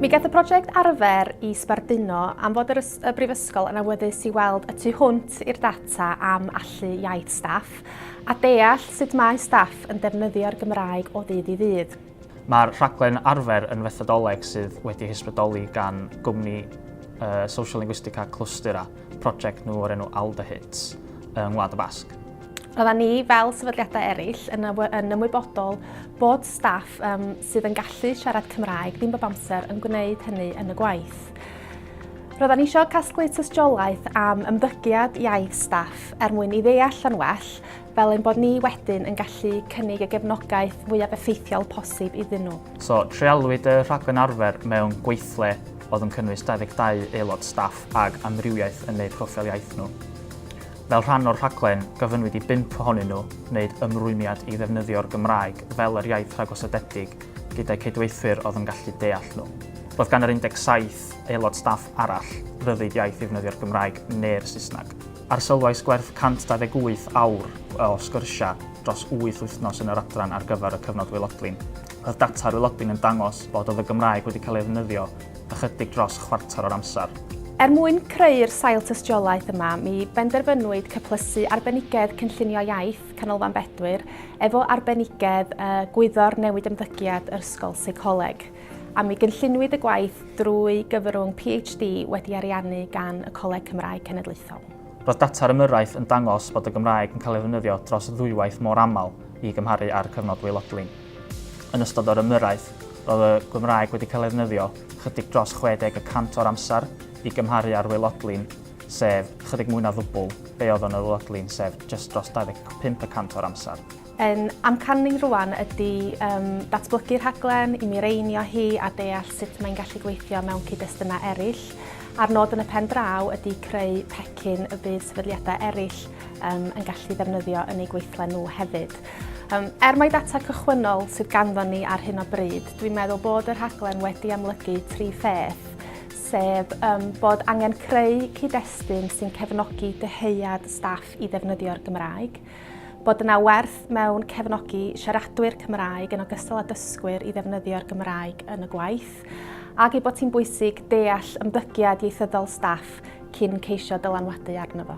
Mi gaeth y prosiect arfer i sbarduno am fod yr y Brifysgol yn awyddus i weld y tu hwnt i'r data am allu iaith staff a deall sut mae staff yn defnyddio'r Gymraeg o ddydd i ddydd. Mae'r rhaglen arfer yn fethodoleg sydd wedi hysbrydoli gan gwmni uh, Social Linguistica Clustura, prosiect nhw o'r enw Alda Hits, yng Ngwlad y Basg. Roedda ni, fel sefydliadau eraill, yn, yn ymwybodol bod staff um, sydd yn gallu siarad Cymraeg ddim bob amser yn gwneud hynny yn y gwaith. Roedda ni eisiau casglu tystiolaeth am ymddygiad iaith staff er mwyn i ddeall yn well fel ein bod ni wedyn yn gallu cynnig y gefnogaeth fwyaf effeithiol posib iddyn nhw. So, treialwyd y rhaglen arfer mewn gweithle oedd yn cynnwys 22 aelod staff ag amrywiaeth yn eu proffil iaith nhw. Fel rhan o'r rhaglen, gofynnwyd i bump ohonyn nhw wneud ymrwymiad i ddefnyddio'r Gymraeg fel yr iaith rhagosodedig gyda'u cydweithwyr oedd yn gallu deall nhw. Roedd gan yr 17 aelod staff arall ryddid iaith i ddefnyddio'r Gymraeg neu'r Saesneg. Arsylwais gwerth 128 awr o sgyrsiau dros wyth wythnos yn yr adran ar gyfer y cyfnod waelodlin. Roedd data ar waelodlin yn dangos bod oedd y Gymraeg wedi cael ei ddefnyddio ychydig dros chwarter o'r amser. Er mwyn creu'r sail tystiolaeth yma, mi benderfynwyd cyplysu arbenigedd Cynllunio Iaith Canolfan Bedwyr efo arbenigedd Gwyddor Newid Ymddygiad Ysgol Seicoleg. a mi gynlluniwyd y gwaith drwy gyfrwng PhD wedi ariannu gan y Coleg Cymraeg Cenedlaethol. Roedd data'r ymyrraeth yn dangos bod y Gymraeg yn cael ei ddefnyddio dros ddwywaith mor aml i gymharu â'r cyfnod waelodlin. Yn ystod yr ymyrraeth, roedd y Gymraeg wedi cael ei ddefnyddio chydig dros 60 y cant o'r amser i gymharu â'r waelodlin, sef chydig mwy na ddwbl be oedd yn y waelodlin, sef jyst dros 25 y cant o'r amser. Ein amcan ni rŵan ydy datblygu rhaglen i mireinio hi a deall sut mae'n gallu gweithio mewn cyd-destunau eraill, a'r nod yn y pen draw ydy creu pecyn y bydd sefydliadau eraill yn gallu ddefnyddio yn eu gweithle nhw hefyd. Er mai data cychwynnol sydd ganddon ni ar hyn o bryd, dwi'n meddwl bod y rhaglen wedi amlygu tri pheth, sef bod angen creu cyd-destun sy'n cefnogi dyhead staff i ddefnyddio'r Gymraeg, Bod yna werth mewn cefnogi siaradwyr Cymraeg yn ogystal â dysgwyr i ddefnyddio'r Gymraeg yn y gwaith, ac ei bod hi'n bwysig deall ymddygiad ieithyddol staff cyn ceisio dylanwadu arno fo.